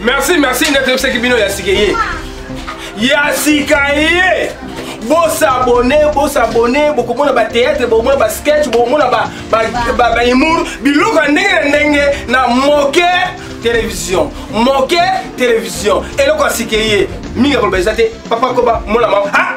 merci merci ndeko toyebisaki bino ya sika ye ya sika ye bosabone bosabone bokomona bateatre bokomona basketch bokomona bahumour biloko ya ndenge na ndenge na moke télévision moke télévision eloko ya sika ye mingi ya koloba eza te papa koba mona mama ah!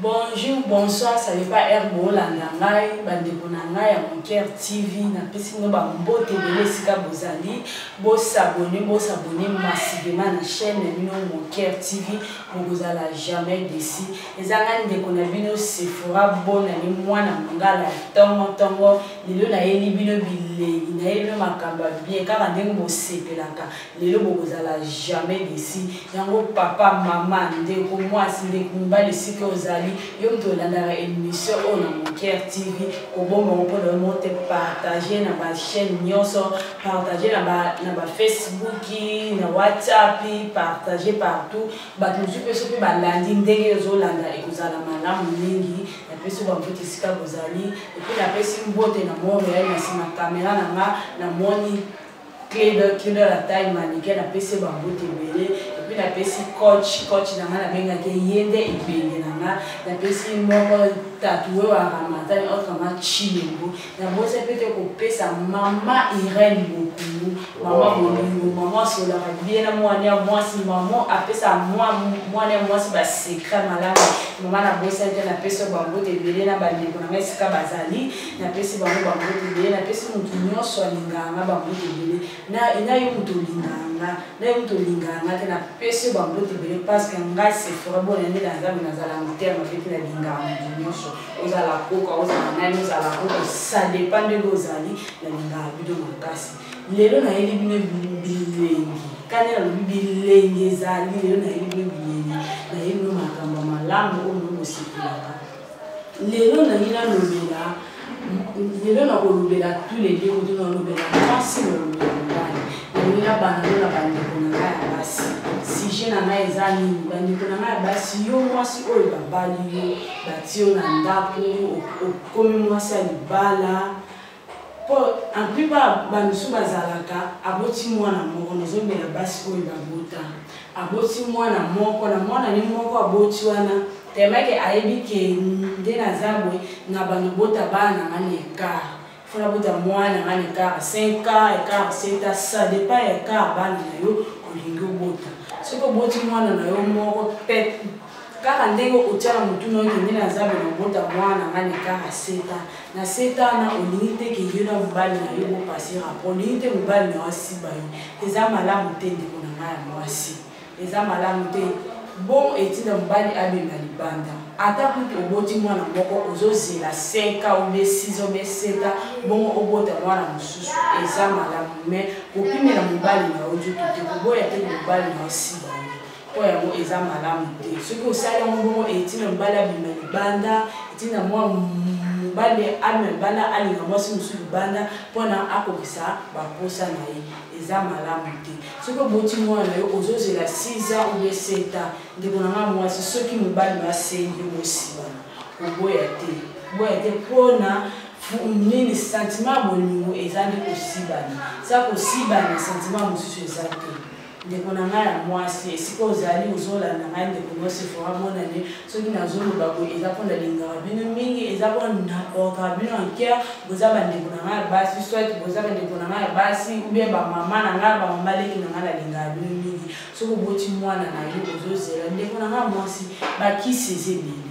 Bonjour, bonsoir, ça n'est pas heure bolanda ngai, bandeko na ngai ya Monker TV, na pesi no ba mbote bele sika bozali, bo s'abonner, bo s'abonner massivement na chaîne na bino Monker TV, bokozala jamais déçu. Eza nga ndeko na bino Sephora Bona ni mwana mongala tongo tongo, lelo na yeli bino bilengi, na yeli bino makambo bien, kaka ndenge bosepelaka, lelo bokozala jamais desi yango papa mama ndeko mwasi ndeko mobali esika ozali yo moto olandaka émission oyo na moker tv koboma ngo mpona mo te partage na bachaîne nyonso partage na bafacebook na whatsapp partage partout bato mosusu mpe soki balandi ndenge ozolanda ekozala malamu mingi napesi bambote esika bozali epuis napesi mbote na montreal na nsima kamera na nga namoni Cledo Cledo la taille manike na pesi ba mbote ebele et puis na pesi coach coach na nga na benga ke yende ibenge na nga na pesi moko tatoué wa ramatani entre ma chilengo na bosa pete ko pesa mama Irène Bokungu mama Bolingo mama sola ka bien na mwana ya mwasi mama apesa mwa mwana ya mwasi ba secret malamu mama na bosa te na pesi ba mbote ebele na ba ndeko na nga esika bazali napesi bango bambote ebele napesi motu nyonso alingaka nga bambote ebele na yo motu olingaka nga na yo motu olingaka nga te napesi yo bambote ebele parceke ngai sefora bona nde na nzambe nazala motema mapeti nalingaka motu nyonso ozala koka ozala nani ozala koka sadepa ndenge ozali nalingaka bino makasi lelo nayeli bino bilengi kani nalobi bilengi ezali lelo nayeli bino bilengi nayeli bino makambo malamu oyo bosepelaka lelo nalingi nalobela lelo nakolobela tous les deux kutu nalobela mwasi nalobela mobali nalingi nabanda na bandeko na ngai ya basi sujet na ngai eza nini bandeko na ngai ya basi yo mwasi oyo babali yo bati yo na ndako okomi mwasi ya libala Po en plupart ba misu bazalaka aboti mwana moko nazomela basi oyo babota aboti mwana moko na mwana ni moko aboti wana tellement que ayebi que nde naza boye na bando bota bana nga na écart faut nabota mwana nga na écart 5 ans écart 7 ans ça dépend ya écart bana na yo olingi obota soki oboti mwana na yo moko peut kaka ndenge otiana motuna oyo kende na zambe na obota mwana nga na kaka seta na seta wana olingi te ke yo na mobali na yo bopasi rapport olingi te mobali na yo asiba yo eza malamu te ndeko na ngai ya mwasi eza malamu te bon etinda mobali abima libanda ata kutu oboti mwana moko ozozela 5 ans obe 6 obe 7 ans bongo obota mwana mosusu eza malamu mais kopimela mobali na yo nzoto te koboya te mobali na yo siba mpo yango eza malamu te soki osali yango bongo etina mobali abima libanda etina mwa mobali abima libanda alinga mwasi mosusu libanda mpona akokisa bamposa na ye eza malamu te soki oboti mwana na yo ozozela 6 ans oubie 7 ans ndeko na nga mwasi soki mobali basengi bosibana koboya te boya te mpona nini sentiment ya bolingo eza nde kosibana eza kosibana sentiment mosusu eza te ndeko na ngai ya mwasi esika ozali ozolanda ngai ndeko mwasi fora monane soki nazoloba boye eza mpo nalingaka bino mingi eza mpo nakoka bino anker boza bandeko na ngai ya basi soit boza bandeko na ngai ya basi ubie bamama na ngai bamama leki na ngai nalingaka bino mingi soki oboti mwana na yo ozozela ndeko na ngai ya mwasi bakisi eza ebele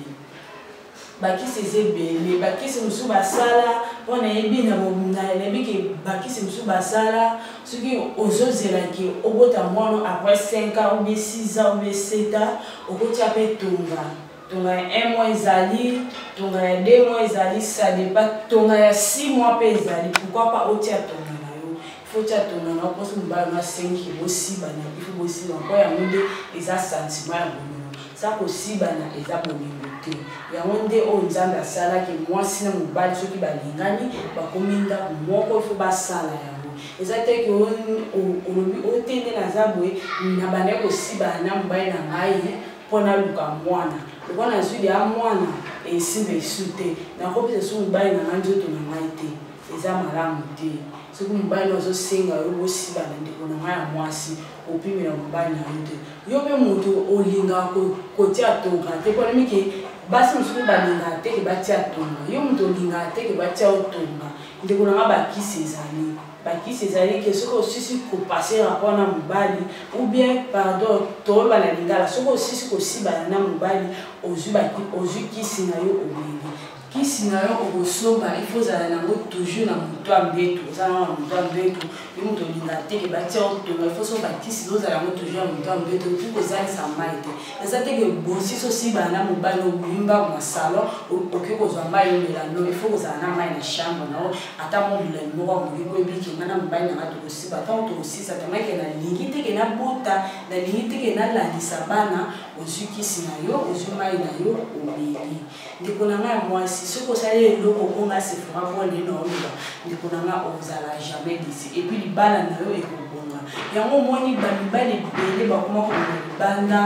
bakisi eza ebele bakisi mosusu basala mpo nayebi nayebi ke bakisi mosusu basala soki ozozela ke obota mwana après 5 ans oubie 6 ans oubie 7 ans okotia mpe tonga tonga ya 1 mois ezali tonga ya 2 mois ezali sadepa tonga ya 6 mois mpe ezali pourkui pa otia tonga na yo ifo tia tonga na yo mposo mobala na 5 bosibana ifo bosibana mpo yango nde eza sentiment ya bolingo Sa kosibana eza bolingo te. Yango nde oyo Nzambe asala ke muasi na mobali soki balingani bakomi ndaku moko il faut basala yango. Eza te ke olobi o te nde naza boye na bandaki kosibana na mobali na ngai po naluka muana. Lokola nazui deja muana esimba esu te nakopesa esu mobali na ngai nzoto na ngai te eza malamu te. soki mobali azosenga yo bosibana ndeko na ngai ya mwasi opimela mobali na yo te yo mpe moto olingaka kotia tonga te mpo nayebike basi mosusu mpe balingaka te ke batia tonga yo moto olingaka te ke batia yo tonga ndeko na ngai bakisi ezali bakisi ezali ke soki osisi kopase rapport na mobali ou bien pardon toloba na lingala soki osisi kosibana na mobali ozwi kisi na yo omeli kisi na yo okosomba il faut ozala nango toujours na moto ya mbeto oza nao na moto ya mbeto yo moto olinga teke batia otonga ifo so bakisi ozala yango toujours na moto ya mbeto okoki kozalisa mai te eza teke bosi sosibana na mobali obimi mbango na salon okoki kozwa mai omela no ifo kozala na mai na chambre nao ata mo molai moko akoki koyebiki nga na mobali nanga tokosiba ntango tokosisa tamake nalingi teke nabota nalingi teke nalandisa bana ozwi kisi na yo ozwi mai na yo omeli ndeko na ngai ya mwasi soki osali eloko mpo ngai sefora mpo nde naoloba ndeko na ngai ozala jamais desi epuis libala na yo ekobonga yango omoni bamibali ebele bakoma kobima libanda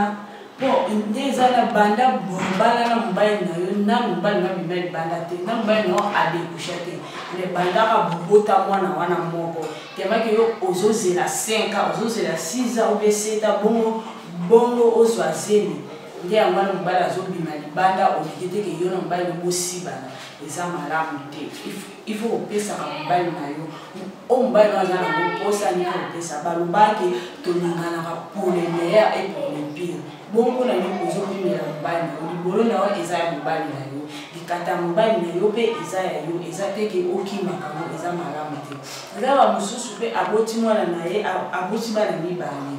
mpo nde eza na banda mobala na mobali na yo na mobali na bima libanda te na mobali na yo adekusha te me bandaka bobota mwana wana moko temaki yo ozozela 5 a ozozela 6 a obe 7 a bongo bongo ozwa zemi nde yango wana mobali azobima libanda oliki te ke yo na mobali bosibana eza malamu te il faut kopesaka mobali na yo oyo mobali na aza nango mposa nini kopesa balobaki tolinganaka pour le meilleur et pour le pire bongo na yo ozobimela mobali na yo libolo na yo eza ya mobali na yo likata ya mobali na yo mpe eza ya yo eza te ke okimaka ngo eza malamu te eza bamosusu mpe aboti mwana na ye aboti bana mibale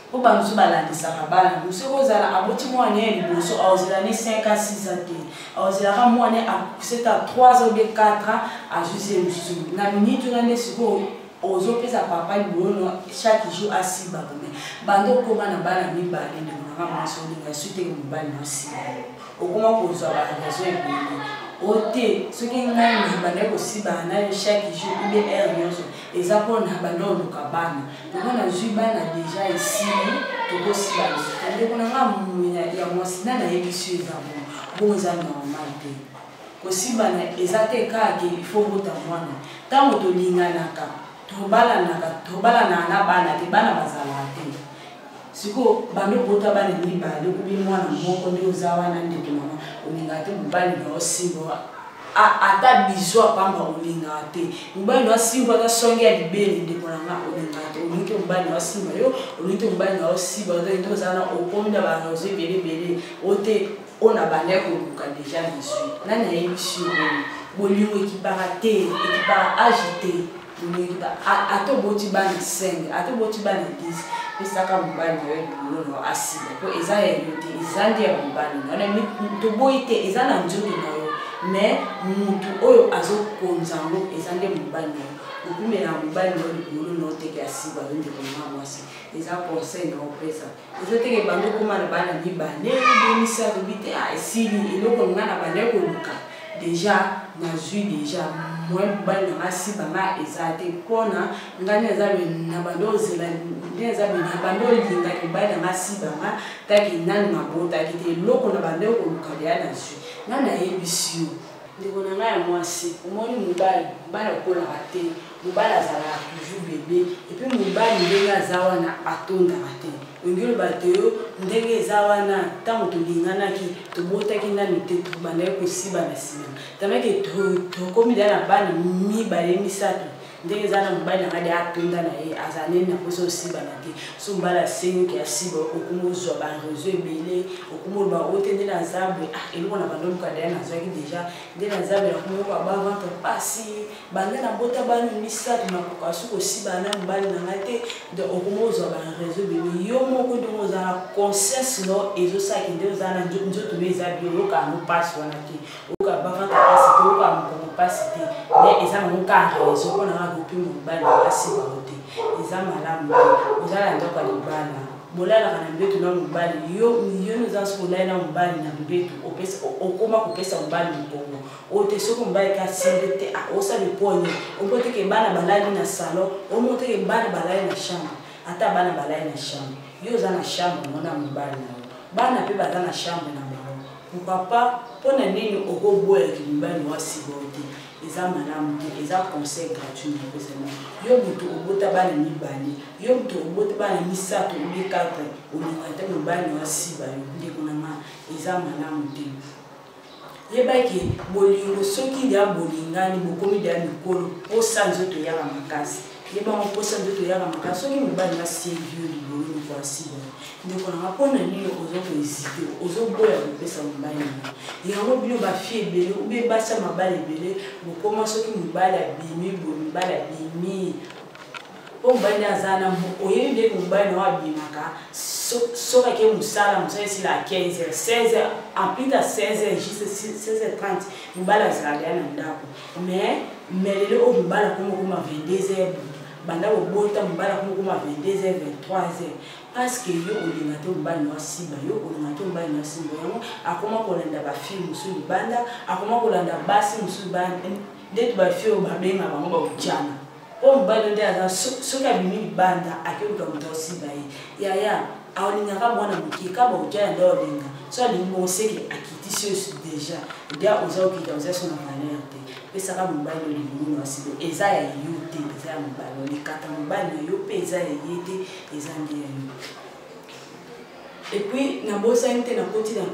mpo bango mosusu balandisaka bana yango soki ozala aboti mwana ya liboso aozela ne 5 a 6 a te aozelaka mwana seta 3 ans obe 4 ans azuzi ye mosusu na miniti wana nde sikoyo ozopesa papa liboyono chaque jour asiba kome banda okoma na bana mibale ndemonaka mwasi olinga su teke mobali nosiba okoma kozwa baraison ebele o te soki ngai mobandaki kosibana na yo chaque jour ube heure nyonso eza mpona banda oluka bana yango nazwi bana deja esili tokosila lisusu ndeko na ngai momina ya mwasi na nayebisi yo eza bongo bongo eza normal te kosibana eza te kaka ifo obota mwana ntango tolinganaka tobalanaka tobalanaka na bana te bana bazalaka te sikoyo bando obota bana mibale okobi mwana moko nde oza wana ndeke mama olingaka te mobali na osimba ata bizu apamba olingaka te mobali na osimba ata songe ya libele ndeko na nga olingaka te olingi te mobali na osimba yo olingi te mobali na osimba nde oza na okomi na banazo ebele ebele o te oyo na banda ya koluka deja bizui nani ayebisi yo bolingo ekipaka te ekipaka age te Olinga ata oboti bana 5 ata oboti bana 10 pesaka mobali na yo libolo na yo asila mpo eza ya yo te eza nde ya mobali na yo toboyi te eza na nzoto na yo me motu oyo azokonza yango eza nde mobali na yo okumela mobali na yo libolo na yo teke asiba yo ndeko na mwasi eza conseil na opesa ozoteke bando okoma na bana mibale ebimisi alobi te ah, esili eloko nga na banda koluka deja nazwi deja moyen mobali na nga siba nga eza te mpona ngai nde naza na banda ozela nde naza na banda olingaki mobali na nga siba nga taki nani mabotaki te eloko na banda koluka deya nazwi nga nayebisi yo ndeko na ngai ya mwasi omoni mobali mobali akolaka te mobali azalaka toujours bebe epuis mobali ndenge aza wana atondaka te olingi oloba te yo ndenge eza wana ntango tolinganaki tobotaki nani te tobandaki kosiba na nsima tameke tokomi deya na bana mibale misato ndenge eza na mobali na ngai de atonda na ye azala nini na mposa osibana te so mobali asengi oke asiba okoma ozwa bareseau ebele okoma oloba o te nde naza boye ah eloko na bando oluka daya nazwaki deja nde naza boye nakoma yoka baventre mpasi banda na bota bana misato nakoka so kosibana na mobali na ngai te donc okoma ozwa bareseau ebele yo moko ndenge oza na conscience no ezosalaki nde oza na nzoto no eza bioyoka yango mpasi wana te oyoka banga kapasi te oyoka mokongo mpasi te me eza nango ka rezo mpo na ngai kopi mobali mpasi bango te eza malamu te ozala ndako ya libala bolalaka na mbetu na mobali yo yoni oza soki olali na mobali na mbetu okoma kopesa mobali mokongo oyo te soki mobali te asimbi te osala eponi omoteke bana balali na salon omoteke bana balali na chambre ata bana balali na chambre yo oza na chambre mona mobali na yo bana mpe baza na chambre na Papa, mpo na nini okoboyaki mibali wa sibor te? eza malamu te eza conseil gratuit napesana yo moto obota bana mibale yo moto obota bana misato obi 4 olinga te mobali na asiba yo ndeko na nga eza malamu te yebaki bolingo soki ya bolingani bokomi deya mikolo mposa nzoto eyaka makasi yebango mposa nzoto eyaka makasi soki mobali na sevi yo libolo moko asiba ndeko nanga mpo na nini oza koezite ozoboya kopesa mobali nanga yango bino bafi ebele ube basi ya mabali ebele bokoma soki mobali abimi boye mobali abimi mpo mobali nde aza na oyebi nde mobali nao abimaka soki ake mosala mosala esila 15 heures 16 heures ampita 16 heures juste 16 heures 30 mobali azalaka ya na ndako mais mais lelo oyo mobali akomokoma 22 heures banda kobota mobali akomokoma 22 heures 23 heures parce que yo olinga te mobali na asimba yo olinga te mobali na asimba yango akoma kolanda bafilme mosusu libanda akoma kolanda basi mosusu libanda ndeti bafie oyo babenga bango baujana oyo mobali nde aza soki abimi libanda akeluka moto asimba ye yaya alingaka mwana moke ka baujana nde olinga so alingi bongo seke akitisi yo deja dia oza okita oza so na valeur te pesaka mobali olingi mwana asimba eza ya yo te eza ya mobali olikata mobali na yo mpe eza ya ye te eza nde ya yo epuis nabosani te nakoti na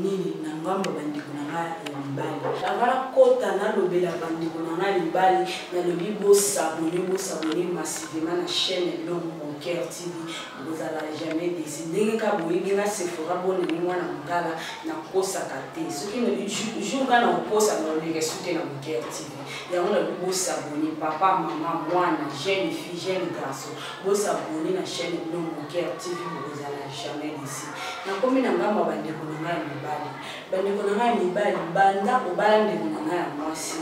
nini na ngambo bandeko na ngai ya mibali anga nakota nalobela bandeko na ngai ya mibali nalobi bosabone bosabone masivema na chaîne elom boncaire tv bozala jamais desi ndenge ka boyebi nga sefora bonene mwana mokala nakosaka te soki jour nga nakokosa nalobeka soki na boncaire tv yango nalobi bosabone papa mama mwana jeune fille jeune garçon Bo s'abonner na chaîne na bino Moker TV bokozala jamais déçu. Nakomi na ngambo ya bandeko na ngai ya mibali. Bandeko na ngai ya mibali banda obala ndeko na ngai ya mwasi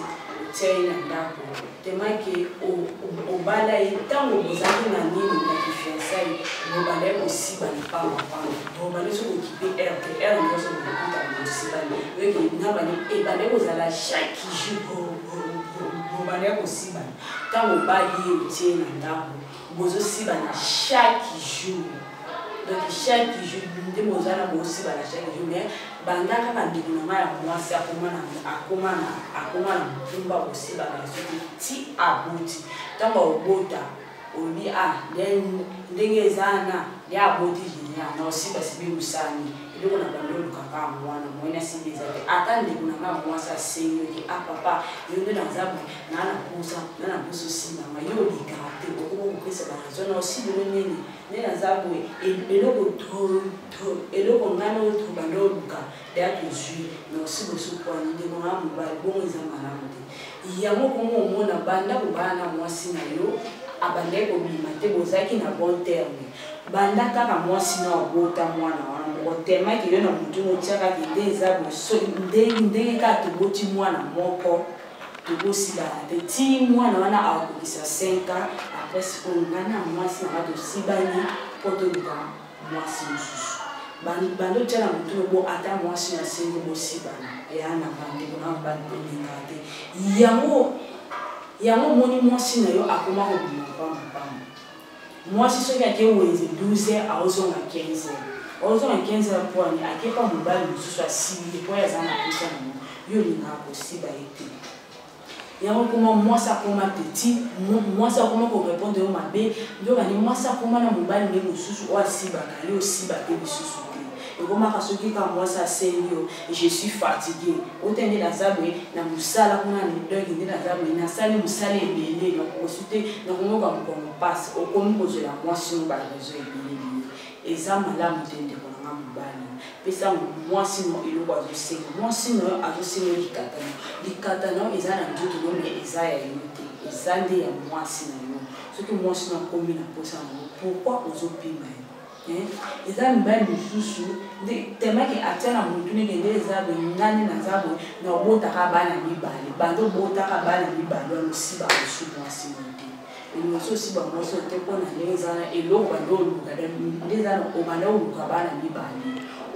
otya ye na ndako temake obala ye ntango bozali na nini na kifiansai bobala ye kosiba lipamba pamba bobala so kokipe air te air nyonso bokokuta bosibani oyebi nabani ebanda kozala chaque jour bobala ye kosibani Tango obali ye otie ye na ndako bozo sibana chaque jour donc chaque jour nde boza na bosibana chaque jour mais banda kaka ndeko na ngai ya mwasi akoma na akoma na akoma na mokumba bosibana soki ti aboti ntango aobota olobi a ndenge eza na nde aboti jenia na osi basibi mosani eloko na bando olukaka yango wana moyena sibi eza te ata ndeko na ngai ya mwasi asengi oki a papa yo nde naza na na posa na na posa osimba ma yo olikaka te okoki kopesa baraison na osilelo nini nde naza boye eloko eloko ngai naoto banda oluka ya tozwi na osi bosukwani ndeko na mobali bongo eza malamu te yango bongo omona banda kobala na mwasi na yo abandaki kobima te bozalaki na bon terme banda kaka mwasi na obota mwana wana moko temaki yo na motu motiakaki nde eza boso ndenge kaka toboti mwana moko tokosilana te ti mwana wana akokisa 5 ans après sikoyo ngai na mwasi nanga tosibani mpo toluka mwasi mosusu bando tya na motu lobo ata mwasi na sengi bosibana ya na bandeko na bani tolinga te yango yango omoni mwasi na yo akoma kobima mpamba mpamba Mwasi soki ake wenze 12 heures aozonga 15 heures. Aozonga 15 heures mpo ani ake mpa mobali mosusu asimbi ye mpo ye aza na mposa na yango. Yo olingaka kosiba ye te. yango koma mwasi akoma petit mwasi akoma korepondre yo mabe nde obandi mwasi akoma na mobali nde mosusu oyo asibaka yo osiba te lisusu te ekomaka soki kaka mwasi asengi yo je suis fatigue ota nde naza boye na mosala kuna na doge nde naza boye nasali mosala ebele nakokosi te nakomoka mokongo mpasi okomi kozwela mwasi mo barezo ebele biye eza malamu te ndeko na nga mobali pesa mwasi no eloko azosenga mwasi no yo azosenga likata no likata no eza na nzoto no me eza ya yo te eza nde ya mwasi na yo soki mwasi no akomi na mposa na yo pourkui ozopima ye Eh, eza mibali mosusu nde temake atya na motu nini nde eza boye ngani naza boye na obotaka bana mibale bando obotaka bana mibale ya mosiba mosu mwasi moye te emosi osiba mwasi oyo te mpo na nde eza na eloko bando oluka nde eza na obanda oluka bana mibale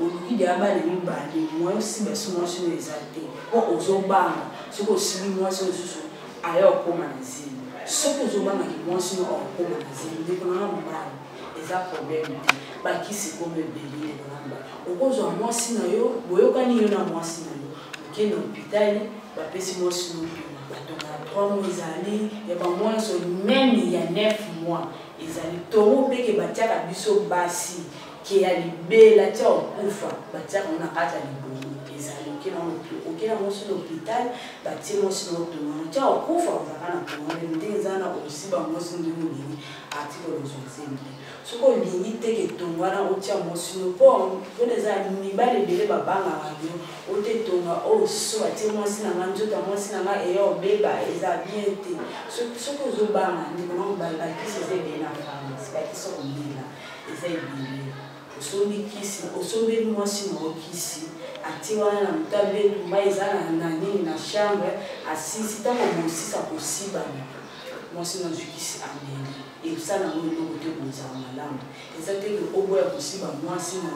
oluki deya bana mibale moye osiba si mwasi oyo eza te mpo ozobanga soki osibi mwasi oyo mosusu aya okoma na zemi soki ozobangaki mwasi oyo okoma na zemi ndeko nanga mobali eza problème te bakisi ekomi ebele ndeko nanga okozwa mwasi na yo boyokani yo na mwasi na yo oke na hopitali bapesi mwasi no ntoma batonga ya 3 mois ezali ya bamwa nyonso meme ya 9 mois ezali tongo mpeke batiaka biso basi ke ya libela tia okufa batiaka ngo na kati ya libongo ezali oke na mwasi na hopitali batie mwasi na otonga tia okufa ozaka na tongo nde eza na osiba mwasi ndenge olingi article oyo ozongisi mpe soki olingi te ke tonga wana otia mwasi no mpo mpona eza mibali ebele babangaka yo ote tonga oyo oh, so atie mwasi na ngai nzoto ya mwasi na ngai eya obeba eza bien te soki ozobanga ndeko na mobali bakisi eza ebele na pharmacie bakisi komela eza ebele osombi kisi osombi mwasi na okisi atie wana na moto abetumba eza na nini na chambre asisi ntango mosisa kosibana mwasi na azwi kisi ameli eza nango eloko te bozala malamu eza te ke oboya kosiba mwasi na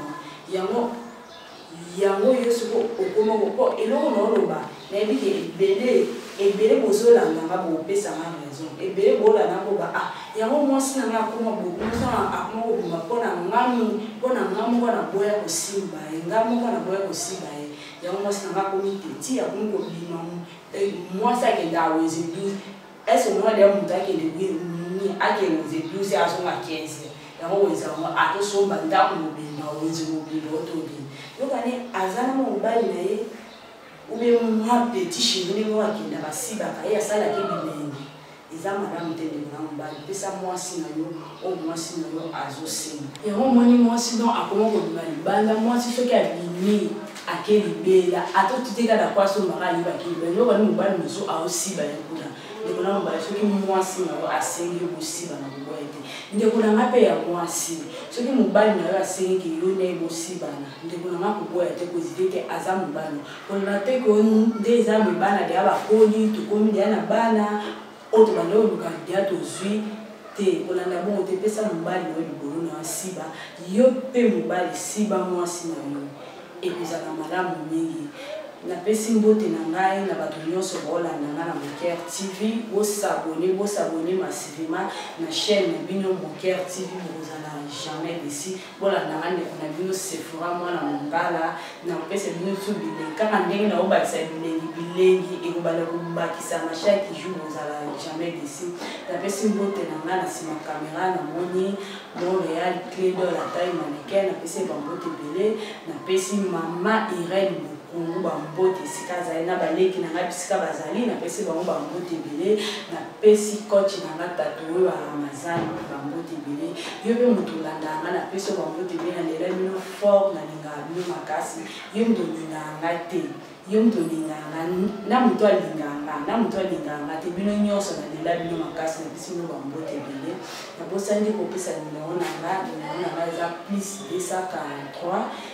yango yango yo soko okoma po eloko na oloba nayebi ke ebele ebele bozolanda nga bopesa nga raison ebele bolanda koba ah yango mwasi na nga akoma bokusa akoma kobima mpo na ngami mpo na nga moko na boya kosimba ye nga moko na boya kosimba ye yango mwasi na nga akomi teti akomi kobima mwasi akenda aweze 12 ese omona deya moto akende nini akende weze 12 azonga 15 yango weze yango atosomba ndako mobimba weze mobimba otobini yokani aza na mobali na ye ube mwa petit cheri ndenge oyo akenda basibaka ye asalaki bilengi eza malamu te ndeko na mobali pesa mwasi na yo oyo mwasi na yo azosenga yango omoni mwasi don akoma kobima libanda mwasi soki abimi ake libela ata otitika na kwasi omaka ayebaki libela yoko ni mobali mosusu aosiba ye kuna ndeko na mobali soki mwasi na yo asengi yo bosiba na boboye te ndeko na ngai mpe ya mwasi soki mobali na yo asengi yo na ye bosibana ndeko na ngai koboya te kozite te aza mobali koloba te ko nde eza me bana deya bakoli tokomi deya na bana oyo tobanda koluka deya tozwi te kolanda bongo te pesa mobali na yo libolo na yo asiba yo mpe mobali siba mwasi na yo ekozala malamu mingi napesi mbote na ngai na bato nyonso baolanda ngai na moker tv bosabone bosabone masivima na chaîne na bino moker tv bokozala jamais desi bolanda nga ndeko na bino sefora mwana mongala na kopesa bino tu bilengi kaka ndenge na obakisa bilengi bilengi ekobanda kobakisa mashaki jour ozala jamais desi napesi mbote na nga na nsima kamera namoni montreal cledo la taille manicain napesi ye bambote ebele napesi mama irene bokungu bambote esika azali na baleki na ngai bisika bazali napesi bango bambote ebele pesi coach na nga tatu oyo ya ramazan bambote ebele yo mpe moto olandaka nga napesi yo bambote ebele nalela bino fort nalingaka bino makasi yo moto olingaka nga te yo moto olingaka nga na moto alingaka nga na moto alingaka nga te bino nyonso nalela bino makasi napesi bino bambote ebele nabosani kopesa nimero na nga nimero na nga eza plus 243